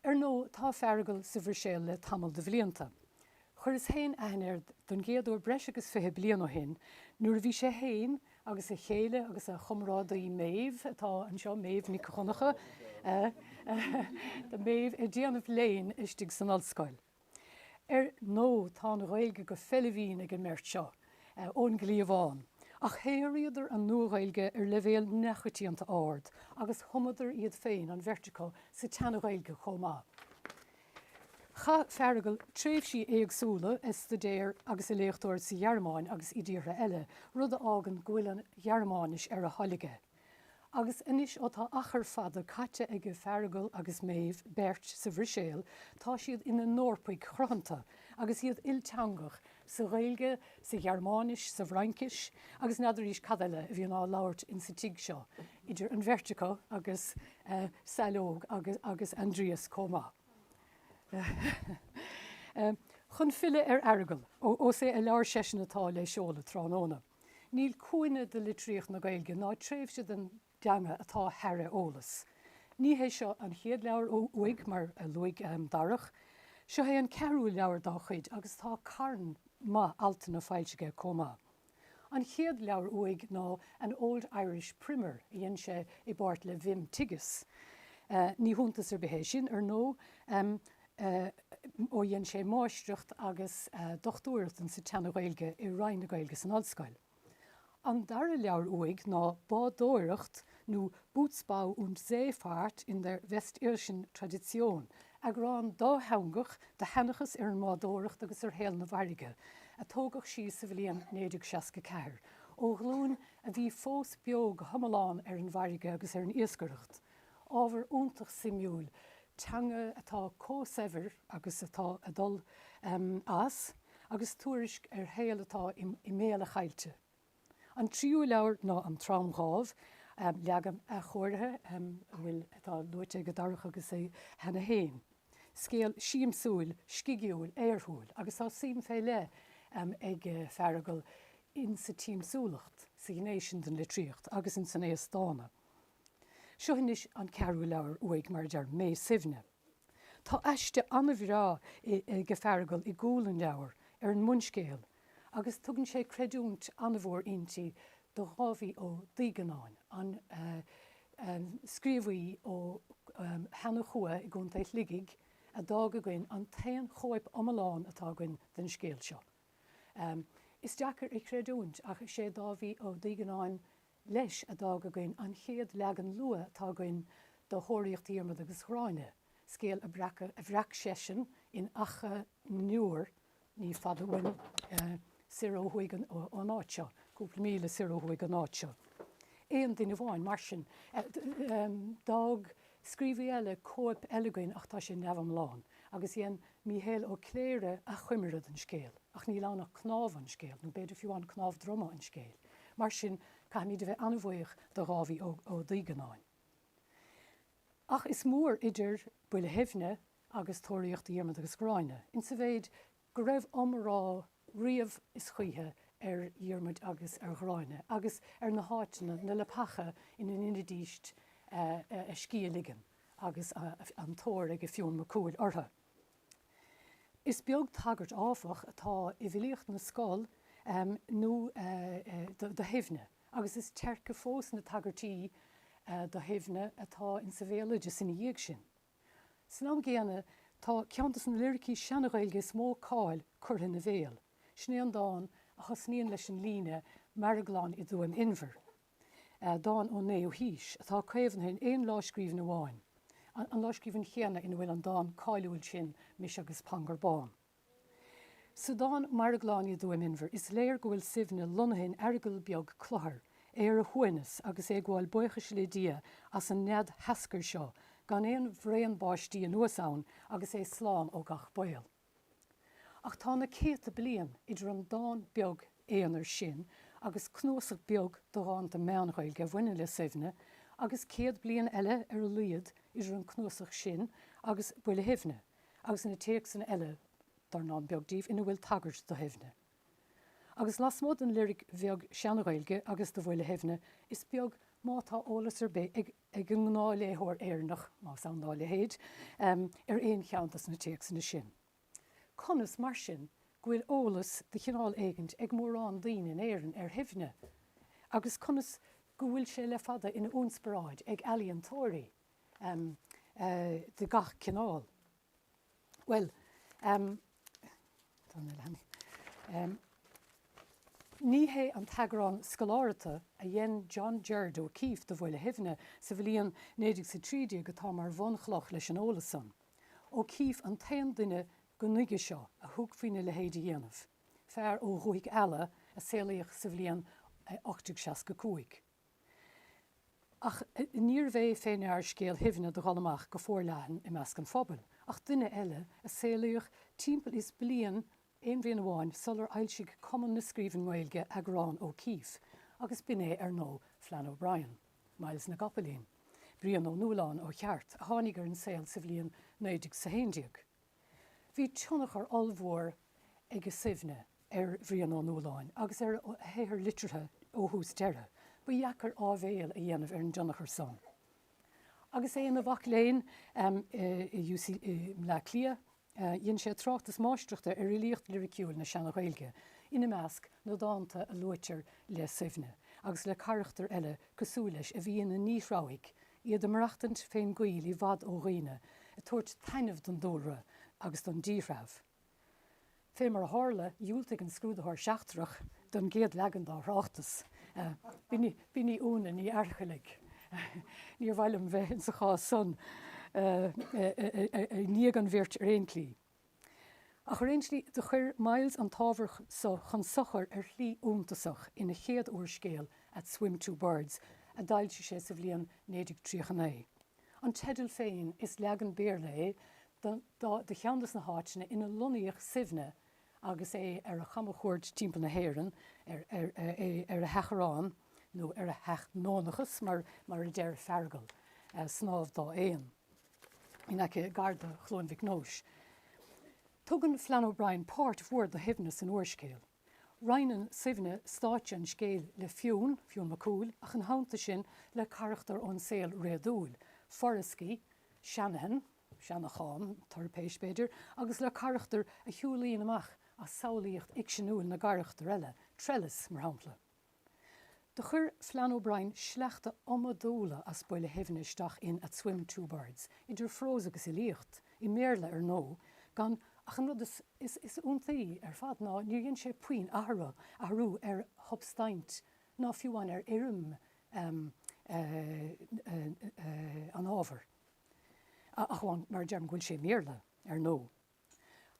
Ar ndóigh, tá Feargal sa Bhruiséil le tamall de bhlianta. Chuireas féin aithne air don gcéad uair breis agus fiche bliain ó shin nuair a bhí sé féin agus a chéile agus a chomrádaí Méabh, atá anseo, Méabh Nic Dhonncha, Méabh, ag déanamh léinn istigh san ollscoil. Ar ndóigh, tá an Ghaeilge go feillbhinn ag an mbeirt seo ón gcliabhán, ach shaothraíodar an Nua-Ghaeilge ar leibhéal neamhchoitianta ard agus thumadar iad féin, an bheirt acu, sa tSean-Ghaeilge chomh maith. Chaith Feargal tréimhsí éagsúla ag staidéar agus ag léachtóireacht sa Ghearmáin agus i dtíortha eile, rud a fhágann go bhfuil an Ghearmáinis ar a thoil aige. Agus anois ó tá achar fada caite aige Feargal agus Méabh beirt sa Bhruiséil, tá siad ina n-Eorpaigh chruthanta agus iad ilteangach, sa Ghaeilge, sa Ghearmáinis, sa bhFraincis agus n'fheadraís cad eile a bhíonn á labhairt insa tigh seo, idir an bheirt acu agus Saileog agus Aindrias comh maith. Chun filleadh ar Fheargal, ós é a leabhar seisean atá le seoladh tráthnóna, Níl cúinne de litríocht na Gaeilge ná tréimhse den dteanga atá thar a eolas. Ní hé seo an chéad leabhar uaidh, mar a luaigh Darach. Seo é an ceathrú leabhar dá chuid agus tá carn maith altanna foilsithe aige comh maith. An chéad leabhar uaidh ná An Old Irish Primer a dhein sé i bpáirt le Wim Tigges. Ní hiontas ar bith é sin, ar ndóigh. ó dhein sé máistreacht agus dochtúireacht in sa tSeana-Ghaeilge i Roinn na Gaeilge san Ollscoil. An dara leabhar uaidh ná Bádóireacht nó Bootsbau und Seefahrt in der westirischen Tradition, eagrán dátheangach de sheanchas ar an mbádóireacht agus ar shaol na bhfarraige, a tógadh síos sa bhliain 1964, ó ghlúin a bhí fós beo go hiomlán ar an bhfarraige agus ar an iascaireacht. Ábhar iontach suimiúil, teanga atá comh saibhir agus atá ag dul as, agus tuairisc ar shaol atá i mbéal a chaillte. An tríú leabhar ná An Tromdhámh, leagan athchóirithe a bhfuil atá luaite ag Darach agus é cheana féin. Scéal siamsúil, scigiúil, aorthúil, agus tá suim fé leith ag Feargal in sa tsiamsúlacht, sa ghné sin den litríocht, agus in san aos dána. Seo anois an ceathrú leabhar uaidh, mar a deir, Mé Suibhne. Tá aiste an-bhreá ag Feargal i gcúl an leabhair ar an mbunscéal agus tugann sé creidiúint an-mhór inti do Dháibhí Ó Duígeannáin, an scríobhaí ó Sheanchua i gContae Shligigh a d'fhág againn an t-aon chóip iomlán atá againn den scéal seo. Is deacair a chreidiúint ach is é Dáibhí Ó Duígeannáin leis, a d'fhág againn an chéad leagan luath atá againn de Thóraíocht Dhiarmada agus Ghráinne, scéal a bhreac seisean in Achadh na nIúr, ní fada uainn, siar ó thuaidh ón áit seo, cúpla míle siar ó thuaidh ón áit seo. Aon duine amháin, mar sin. D'fhág scríobhaí eile cóip eile againn ach tá sé neamhiomlán, agus dhein Míchéal Ó Cléire achoimre den scéal, ach níl ann ach cnámha an scéil, nó b'fhéidir fiú amháin cnámh droma an scéil. Mar sin, caithfimid a bheith an-bhuíoch do Dháibhí Ó Duígeannáin. Ach is mór idir Buile Shuibhne agus Tóraíocht Dhiarmada agus Ghráinne, insa mhéid go raibh iomrá riamh is choíche ar Dhiarmaid agus ar Ghráinne agus ar na háiteanna, na leapacha ina ndeinidíst a scíth a ligean agus an tóir ag Fionn Mac Cumhaill orthu. Is beag tagairt, áfach, atá i bhfilíocht na scol nó do Shuibhne, agus is teirce fós na tagairtí do Shuibhne atá insa bhéaloideas ina dhiaidh sin. San am gcéanna, tá ceann dos na liricí Seana-Ghaeilge is mó cáil curtha ina bhéal, sin é an dán a thosnaíonn leis an líne 'M'aireaglán i dTuaim Inbhir'. dán ón naoú haois atá caomhnaithe in aon lámhscríbhinn amháin, an lámhscríbhinn chéanna ina bhfuil an dán cáiliúil sin Mise agus Pangur Bán. Sa dán M'aireaglán i dTuaim Inbhir is léir go bhfuil Suibhne lonnaithe in aireagal beag cluthar ar a shuaimhneas agus é ag gabháil buíochais le Dia as an nead sheascair seo gan aon bhraon báistí anuas ann agus é slán ó gach baol. Ach tá na céadta bliain idir an dán beag aonair sin agus cnuasach beag de dhánta Meán-Ghaeilge a bhaineann le Suibhne, agus céad bliain eile ar a laghad idir an cnuasach sin agus Buile Shuibhne, agus na téacsanna eile, dornán beag díobh, ina bhfuil tagairt do Shuibhne. Agus lasmuigh den liric bheag Seana-Ghaeilge agus de Bhuile Shuibhne, is beag má tá eolas ar bith ag. ag an ngnáthléitheoir Éireannach, más ann dá leithéid, ar aon cheann dos na téacsanna sin. Conas, mar sin, go bhfuil eolas de chineál éigint ag mórán daoine in Éirinn ar Shuibhne? Agus conas go bhfuil sé le fada ina ionspioráid ag ealaíontóirí de gach cineál? Bhuel, ní hé an t-eagrán scolártha a dhein John Gerard O'Keeffe de Bhuile Shuibhne sa bhliain 1913 atá mar bhunchloch leis an eolas san. O'Keeffe an t-aon duine go nuige seo a thug faoina leithéid a dhéanamh, fear ó Dhúthaigh Ealla a saolaíodh sa bhliain 1865. Ach níorbh é fé ndear scéal Shuibhne do dhul amach go foirleathan i measc an phobail, ach duine eile, a saolaíodh timpeall is bliain, aon bhliain amháin, sular fhoilsigh Cumann na Scríbheann nGaeilge eagrán O'Keeffe, agus b'in é, ar ndóigh, Flann O'Brien, Myles na gCopaleen, Brian Ó Nualláin, ó cheart, a tháinig ar an saol sa bhliain 1911. Bhí tionchar ollmhór ag Suibhne ar Bhrian Ó Nualláin agus ar a shaothar liteartha ó thús deireadh. Ba dheacair áibhéil a dhéanamh ar an dtionchar san. Agus é ina mhac léinn i UCD i mBleá Cliath, dhein sé tráchtas máistreachta ar fhilíocht liriciúil na Seana-Ghaeilge, ina measc, na dánta a luaitear le Suibhne agus le carachtair eile cosúil leis a bhí ina ndíthreabhaigh iad ag maireachtaint fén gcoill i bhfad ó dhaoine, ag tabhairt taitneamh don dúlra agus don díthreabh. Fé mar a tharla, dhiúltaigh an scrúdaitheoir seachtrach don gcéad leagan dá thráchtas. B'in í Úna Ní Fhaircheallaigh. Níor mhaith liom bheith insa chás san i ndiaidh an bhirt ar aon tslí. Ach ar aon tslí, do chuir Myles an t-ábhar so chun sochair ar shlí iontasach ina chéad úrscéal At Swim Two Birds a d'fhoilsigh sé sa bhliain 1939. An teideal féin, is leagan Béarla é de cheann des na háiteanna ina lonnaíodh Suibhne agus é ar a chamachuairt timpeall na hÉireann, ar a sheachrán, nó ar a sheachnónachas mar a deir Feargal, snámh dá éan. in aice gar do Chluain Mhic Nóis. Tugann Flann O'Brien páirt mhór do Shuibhne san úrscéal. Roinneann Suibhne stáitse an scéil le Fionn, Fionn Mac Cumhaill, ach ina theannta sin le carachtair ón saol réadúil, Furriskey, Shanahan, Seanachán Toirpéist, b'fhéidir, agus le carachtair a shiúlaíonn amach as samhlaíocht fhicseanúil na gcarachtar eile, Trellis, mar shampla. Do chuir Flann O'Brien sleachta iomadúla as Buile Shuibhne isteach in At Swim-Two-Birds, idir phrós agus fhilíocht, i mBéarla ar ndóigh, gan ach an rud is iontaí ar fad ná níor dhein sé puinn athrú ar shubstaint ná fiú amháin ar fhoirm an ábhair, ach amháin, mar a deirim, go bhfuil sé i mBéarla ar ndóigh.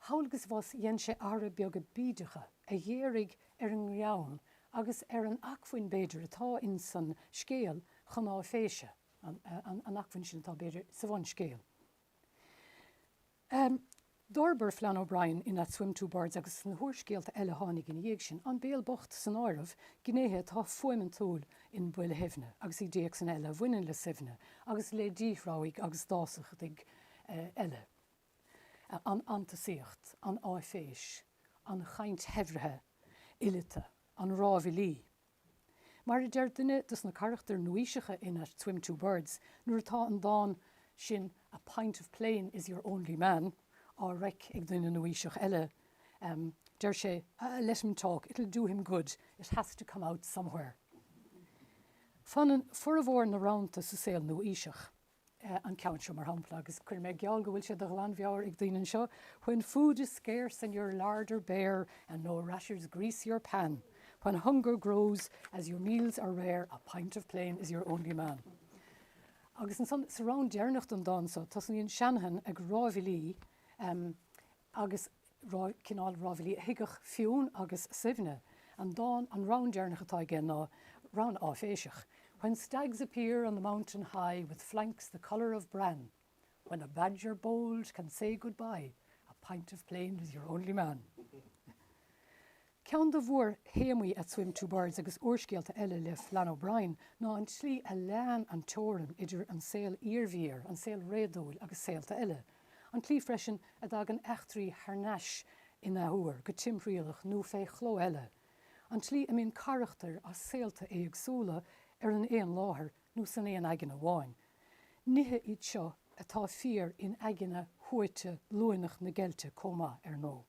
Thall agus abhus dhein sé athruithe beaga bídeacha a ghéaraigh ar an ngreann agus ar an acmhainn, b'fhéidir, atá in san scéal chun áiféise, an acmhainn sin atá, b'fhéidir, sa bhunscéal. D'fhorbair Flann O'Brien in At Swim Two Birds agus sna húrscéalta eile a tháinig ina dhiaidh sin, An Béal Bocht san áireamh, gnéithe atá fuaimintiúil in Buile Shuibhne agus i dtéacsanna eile a bhaineann le Suibhne agus le díthreabhaigh agus dásachtaigh eile. an fhantasaíocht, an áiféis, an chaint shaibhrithe fhileata, an rámhaillí. Mar a deir duine dos na carachtair nua-aoiseacha in At Swim Two Birds, nuair atá an dán sin 'A pint of plain is your only man' á reic ag duine nua-aoiseach eile, deir sé 'Let him talk, it'll do him good, it has to come out somewhere'. Fanann formhór na rannta sa saol nua-aoiseach. an ceann seo mar shampla, agus cuirfidh mé geall go bhfuil sé de ghlanmheabhair ag daoine anseo, 'When food is scarce and your larder bare and no rashers grease your pan, when hunger grows as your meals are rare, a pint of plain is your only man. Agus ansan, sa rann deireanach den dán so, tosnaíonn Shanahan ag rámhaillí, agus cineál rámhaillí a thuigfeadh Fionn agus Suibhne an dán, an rann deireanach atá aige ná rann áiféiseach, When stags appear on the mountain high With flanks the colour of bran, When a badger bold can say good bye A pint of plain is your only man. Ceann de mhórthéamaí At Swim Two Birds agus úrscéalta eile le Flann O'Brien ná an tslí a leánn an teorainn idir an saol iarbhír, an saol réadúil agus saolta eile, an tslí freisin a dtagann eachtraí thar n-ais in athuair, go timthriallach nó fé chló eile, an tslí a mbíonn carachtair as saolta éagsúla ar an aon láthair nó san aon aigne amháin. Nithe iad seo atá fíor in aigne shuaite luaineach na geilte comh maith, ar ndóigh.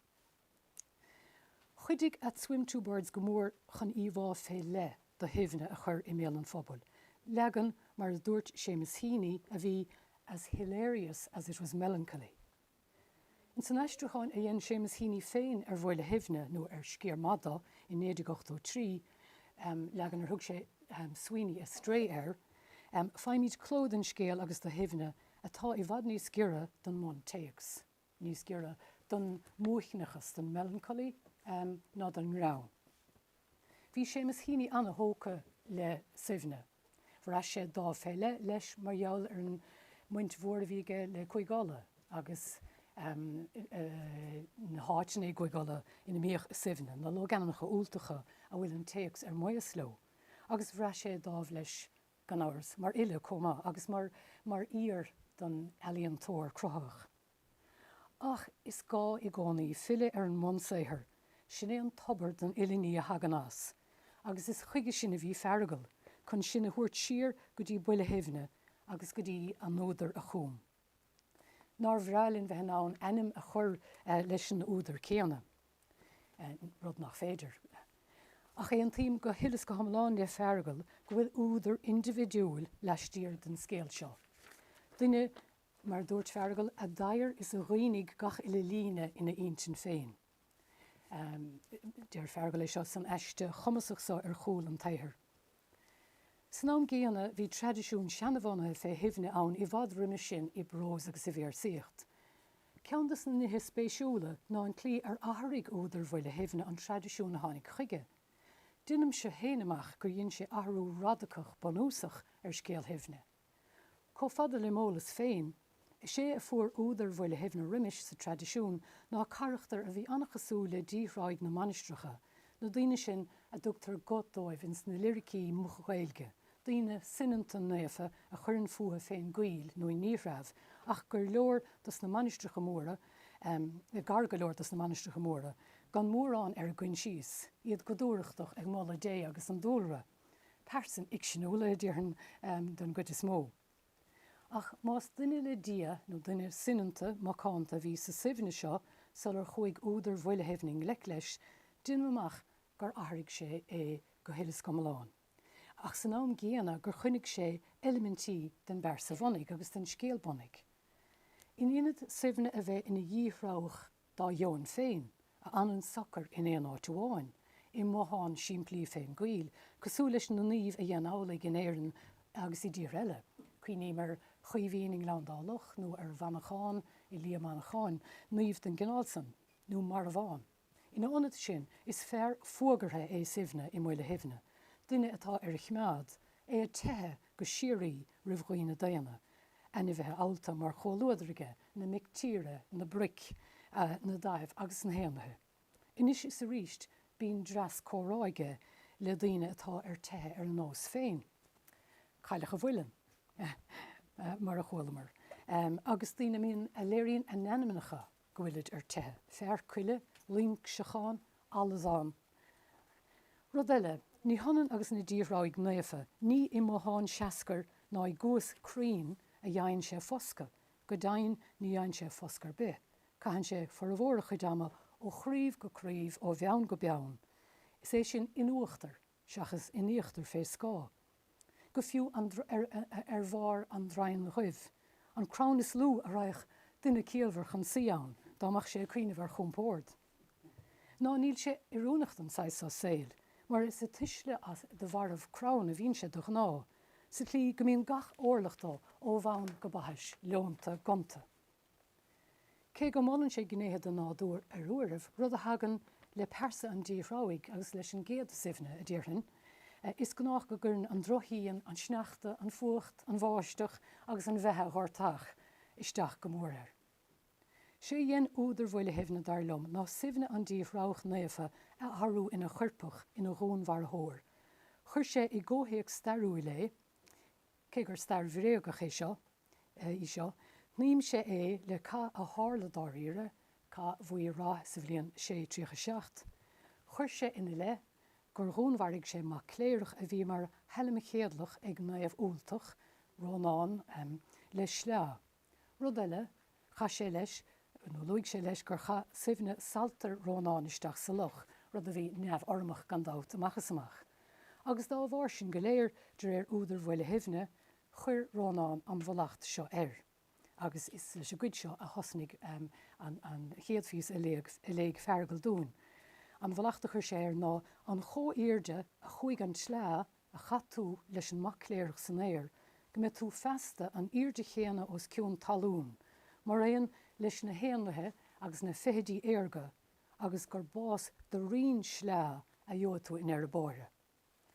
Chuidigh At Swim Two Birds go mór chun íomhá fé leith do Shuibhne a chur i mbéal an phobail, leagan, mar a dúirt Seamus Heaney, a bhí 'as hilarious as it was melancholy'. Ins an aistriúcháin a dhein Seamus Heaney féin ar Bhuile Shuibhne, nó ar sciar maith do, i 1983, leagan ar thug sé Sweeney Astray air, faighimid cló den scéal agus de Shuibhne atá i bhfad níos giorra don mbuntéacs. níos giorra don maoithneachas, don melancholy, ná don ngreann. Bhí Seamus Heaney an-thógtha le Suibhne. Bhraith sé dáimh fé leith leis mar gheall ar an mbaint mhór a bhí aige le Cúige Uladh agus na háiteanna i gCúige Uladh ina mbíodh Suibhne, na logainmneacha Ultacha a bhfuil an téacs ar maos leo, agus bhraith sé dáimh leis gan amhras, mar fhile chomh maith agus mar fhíor don ealaíontóir cruthaitheach. Ach is gá i gcónaí filleadh ar an mbunsaothar, sin é an tobar don uile ní a thagann as, agus is chuige sin a bhí Feargal, chun sinn a thabhairt siar go dtí Buile Shuibhne agus go dtí an údar a chúm. Nár bhreá linn bheith in ann ainm a chur leis an údar céanna, rud nach féidir. Ach aontaím go huile is go hiomlán le Feargal go bhfuil údar indibhidiúil laistiar den scéal seo. Duine, mar a dúirt Feargal, a d'fhaghair is a righnigh gach uile líne ina intinn féin. Deir Feargal é seo san aiste chumasach so ar chúl an tsaothair. San am gcéanna, bhí traidisiún seanabhunaithe fé Shuibhne ann i bhfad roimis sin i bprós agus i véarsaíocht. Ceann de sna nithe spéisiúla ná an tslí ar athraigh údar Bhuile Shuibhne an traidisiún a tháinig chuige. Deinimse féin amach gur dhein sé athrú radacach bunúsach ar scéal Shuibhne. Chomh fada le m'eolas féin, is é a fuair údar Bhuile Shuibhne roimis sa traidisiún ná carachtar a bhí an-chosúil le díthreabhaigh na mainistreacha, na daoine sin a dtugtar guth dóibh ins na liricí moch-Ghaeilge, daoine soineanta naofa a chuireann fúthu fén gcoill nó i ndíthreabh, ach gur leor do sna mainistreacha móra, gar go leor do sna mainistreacha móra, gan mórán ar a gcoinsias, iad go dúthrachtach ag moladh Dé agus an dúlra. Pearsain fhicseanúla, a déarfainn, don gcuid is mó. Ach más duine le Dia, nó duine soineanta, macánta a bhí sa Suibhne seo sular chuaigh údar Bhuile Shuibhne i ngleic leis, deinim amach gur athraigh sé é go huile is go hiomlán, ach san am gcéanna gur choinnigh sé eilimintí den bpearsa bhunaidh agus den scéal bunaidh. In ionad Suibhne a bheith ina dhíthreabhach dá dheoin féin, a fhanann socair in aon áit amháin, i mbothán simplí fén gcoill, cosúil leis na naoimh a dhein amhlaidh in Éirinn agus i dtíortha eile, cuimhním ar Chaoimhín i nGleann Dá Loch, nó ar Mhanchán i Liath Mancháin, naoimh den gcineál san, nó Marbhán. Ina ionad sin, is fear fuagartha é Suibhne i mBuile Shuibhne, duine atá ar a choimeád, é ag teitheadh, go síoraí roimh dhaoine daonna, ainmhithe allta mar chomhluadar aige, na mic tíre, na broic, na daimh agus na héanlaithe. Anois is arís bíonn dreas comhrá aige le daoine atá ar teitheadh ar a nós féin, Cailleach an Mhuilinn, mar a chualamar, agus daoine a mbíonn, a léiríonn a n-ainmneacha go bhfuilid ar teitheadh, Fear Coille, Loingseachán, Alladhán. Rud eile, ní hionann agus na díthreabhaigh naofa, ní i mbothán seascair ná i gcuas cruinn a dhein sé foscadh, go deimhin ní dhein sé foscadh ar bith, caitheann sé formhór a chuid ama ó chraoibh go craoibh, ó bheann go beann, is é sin in uachtar. seachas in íochtar fé scáth go fiú ar bharr an draighin dhuibh, an crann is lú a raghadh duine ciallmhar chun suí ann dá mbeadh sé ag cuimhneamh ar chúmpórd. Ná níl sé oiriúnach don saghas so saoil, mar is ag tuisleadh de bharraibh crann a bhíonn sé de ghnáth, sa tslí go mbíonn gach órlach dó ó bhonn go baithis leonta, gonta. Cé go molann sé gnéithe den nádúr ar uairibh, rud a thagann le pearsa an díthreabhaigh agus leis an gcéad Suibhne, a déarfainn, is gnách go gcuireann an drochshíon, an sneachta, an fuacht, an bháisteach agus an bheatha ghortach isteach go mór air. 'Sé dhein údar Bhuile Shuibhne, dar liom, ná Suibhne an díthreabhach naofa a athrú ina choirpeach, ina dhúnmharfóir. Chuir sé i gcomhthéacs stairiúil é, cé gur stair bhréagach é seo, í seo, shnaidhm sé é le cath a tharla dáiríre, Cath Mhaighe Rath sa bhliain 637. Chuir sé ina leith gur dhúnmharaigh sé mac cléireach a bhí mar shailmchéadlach ag naomh Ultach, Rónán, le sleá. Rud eile, chaith sé leis, nó luaigh sé leis gur chaith Suibhne saltair Rónáin isteach sa loch, rud a bhí neamh-urramach gan dabht amach is amach. Agus dá bharr sin go léir, de réir údar Bhuile Shuibhne, Chuir Rónán an mhallacht seo air, agus is leis an gcuid seo a thosnaigh an chéad phíosa a léigh Feargal dúinn. An mhallacht a chuir sé air ná, 'An chomhaoirde a chuaigh an tsleá a chaith tú leis an mac cléireach san aer, go mbeidh tú feasta an aoirde chéanna os cionn talún, maraon leis na héanlaithe agus na feithidí aerga, agus gur bás de rinn sleá a gheobhaidh tú i ndeireadh báire.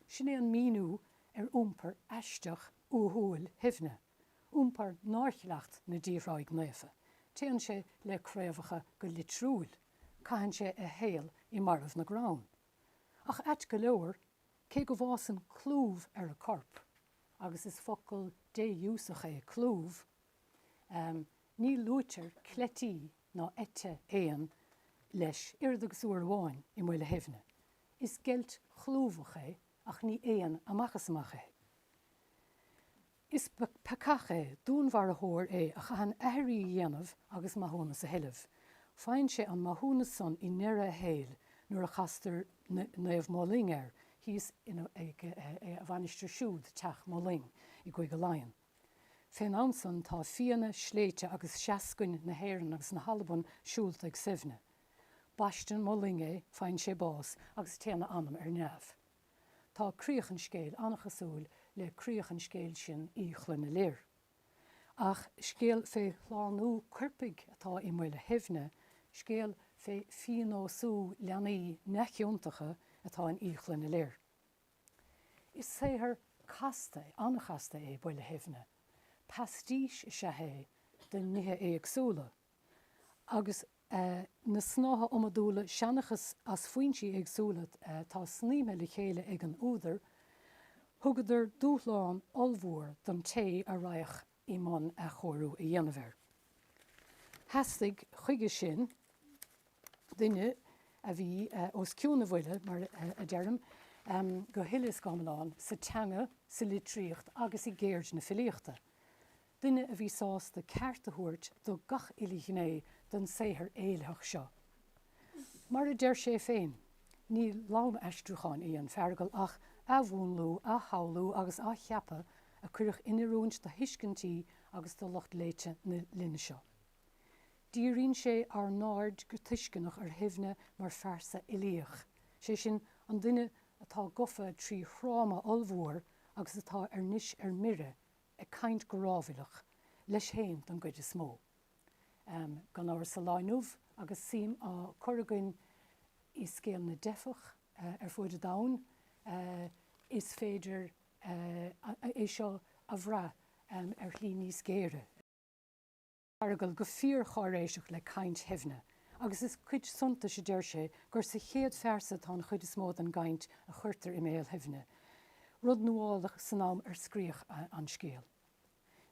Sin é an míniú ar iompar aisteach uathúil Shuibhne, iompar nár chleacht na díthreabhaigh naofa. Téann sé le craobhacha go litriúil, caitheann sé a shaol i mbarraibh na gcrann. Ach ait go leor, cé go bhfásann clúmh ar a corp, agus is focal défhiúsach é clúmh, ní luaitear cleití ná eite éan leis, oiread agus uair amháin, i mBuile Shuibhne. Is geilt chlúmhach é ach ní éan amach is amach é. Is peacach é, dúnmharfóir é a chaitheann aithrí a dhéanamh agus maithiúnas a thuilleamh. Faigheann sé an maithiúnas san i ndeireadh a shaoil nuair a chastar Naomh Moling air thíos ag a mhainistir siúd, Teach Moling, i gCúige Laighean. Fén am san tá fianna, sléibhte agus seascainn na hÉireann agus na hAlban siúlta ag Suibhne. Baisteann Moling é, faigheann sé bás agus téann a anam ar neamh. Tá críoch an scéil an-chosúil le críoch an scéil sin Oidhe Chloinne Lir. Ach scéal fé shlánú coirpigh atá i mBuile Shuibhne, scéal fé phíonósú leanaí neamhchiontacha atá in Oidhe Chloinne Lir. Is saothar casta, an-chasta é Buile Shuibhne. Pastiche is ea é de nithe éagsúla agus. a na snáithe iomadúla seanchas as foinsí éagsúla atá snaidhmthe le chéile ag an údar, thugadar dúshlán ollmhór don té a raghadh i mbun athchóiriú a dhéanamh air. Theastaigh, chuige sin, duine a bhí os cionn a bhuille, mar a deirim, go huile is go hiomlán sa teanga, sa litríocht agus i gceird na filíochta. duine a bhí sásta ceart a thabhairt do gach uile ghné den saothar éilitheach seo. Mar a deir sé féin, ní lánaistriúchán í an Fheargail ach athmhúnlú, athshamhlú agus athcheapadh a cuireadh in oiriúint do thuiscintí agus do lucht léite na linne seo. Díríonn sé ár n-aird go tuisceanach ar Shuibhne mar phearsa uilíoch, sé sin, an duine atá gofa trí thráma ollmhór agus atá arís ar mire ag caint go rámhailleach, leis féin don gcuid is mó, gan amhras sa lá atá inniu ann agus suim á cur againn i scéal na dteifeach ar fuaid an domhain, is féidir é seo a bhrath ar shlí níos géire. Feargal, go fíorcháiréiseach le caint Shuibhne, agus is cuid suntais a deir sé gur sa chéad phearsa atá an chuid is mó den gcaint a chuirtear i mbéal Shuibhne, rud nuálach san am ar scríodh an scéal.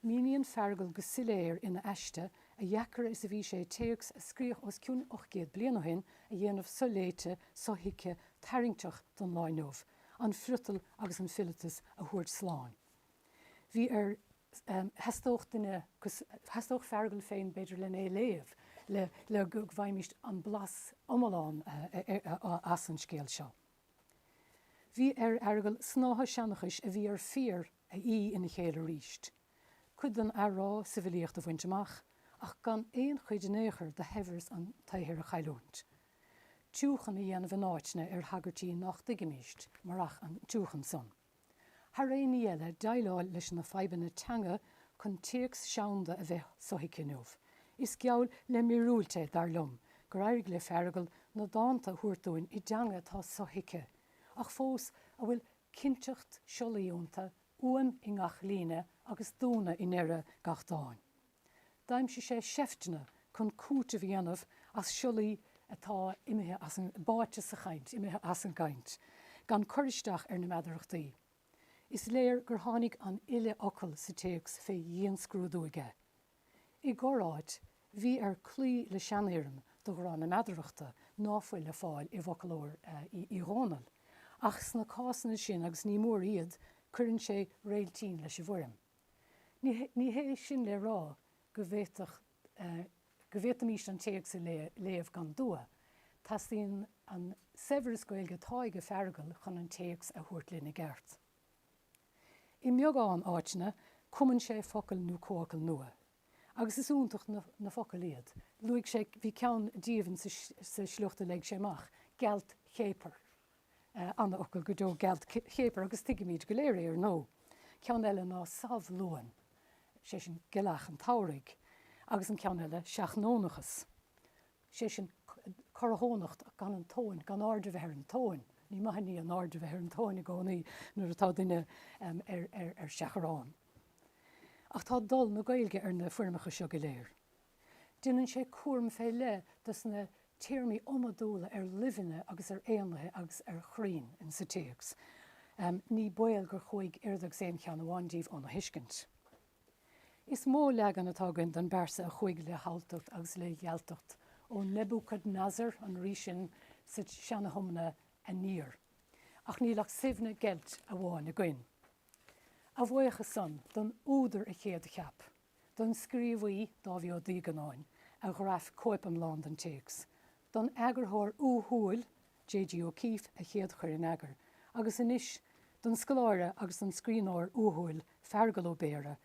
Míníonn Feargal go soiléir ina aiste a dheacra is a bhí sé téacs a scríodh os cionn ocht gcéad bliain ó shin a dhéanamh so-léite, so-thuigthe, tarraingteach don lá inniu, an friotal agus an fileatas a thabhairt slán. Bhí ar, theastódh duine, theastódh Feargal féin, b'fhéidir, len é a léamh le, le go bhfaighimist an blas iomlán as an scéal seo. Bhí ar Fheargal snáithe seanchais a bhí ar fiar a fhí ina chéile arís, cuid den athrá sa bhfilíocht a bhaint amach ach gan aon chuid in aon chor de shaibhreas an tsaothair a chailliúint, tiúchan a dhéanamh in áiteanna ar thagairtí nach dtuigimist marach an tiúchan san. thar aon ní eile, déileáil leis na fadhbanna teanga chun téacs seanda a bheith sothuigthe inniu. Is geall le míorúilt é, dar liom, gur éirigh le Feargal na dánta a thabhairt dúinn i dteanga atá sothuigthe, ach fós a bhfuil cinnteacht siollaí iontu, uaim i ngach líne agus dúnadh i ndeireadh gach dáin. D'aimsigh sé seifteanna chun cúiteamh a dhéanamh as siollaí atá imithe as an, báite sa chaint, imithe as an gcaint, gan cur isteach ar na meadarachtaí. Is léir gur tháinig an uile fhocal sa téacs fé dhianscrúdú aige. I gcorr-áit, bhí air cloí le seanfhoirm de ghrá na meadarachta ná fuil le fáil i bhfoclóir Uí Dhónaill, ach sna cásanna sin agus ní mór iad, cuireann sé réiltín leis an bhfoirm. Ní hé sin le rá go bhféadfadh, go bhféadfaimis an téacs a léamh gan dua. Teastaíonn an saibhreas Gaeilge atá ag Feargal chun an téacs a thabhairt linn i gceart. I mbeagán áiteanna, cumann sé focail nó comhfhocail nua, agus is iontach na focail iad. Luaigh sé, bhí ceann díobh sa sliocht a léigh sé amach, 'gealtchéapar'. An-fhocal go deo 'gealtchéapar' agus tuigimid go léir é ar ndóigh. Ceann eile ná 'samhlúan', sé sin, gealach an tsamhraidh, agus an ceann eile 'seachnónachas', sé sin, corrathónacht, gan an tóin, gan aird a bheith ar an tóin. Ní maith an ní an aird a bheith ar an tóin i gcónaí nuair atá duine ar seachrán. Ach tá dul na Gaeilge ar na foirmeacha seo go léir. Déanann sé cúram fé leith dos na téarmaí iomadúla ar luibheanna agus ar éanlaithe agus ar chrainn in sa téacs. Ní baol gur chuaigh oiread agus aon cheann amháin díobh óna thuiscint. Is mó leagan atá againn don bpearsa a chuaigh le haltacht agus le gealtacht ó Nebuchadnezzar, an rí sin sa tSeana-Thiomna, aniar. Ach níl ach Suibhne Geilt amháin againn. A bhuíochas san don údar a chéadcheap, don scríobhaí, Dáibhí Ó Duígeannáin, a ghraf cóip iomlán den téacs, don eagarthóir uathúil, JG O'Keefe, a chéadchuir in eagar, agus anois, don scoláire agus don scríbhneoir uathúil, Feargal Ó Béarra,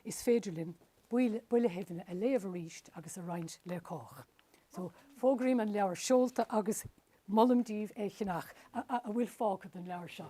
is féidir linn Buile Shuibhne a léamh arís agus a roinnt le cách. So, fógraím an leabhar seolta agus Molaim díbh é cheannach, a bhfuil fágtha den leabhar seo.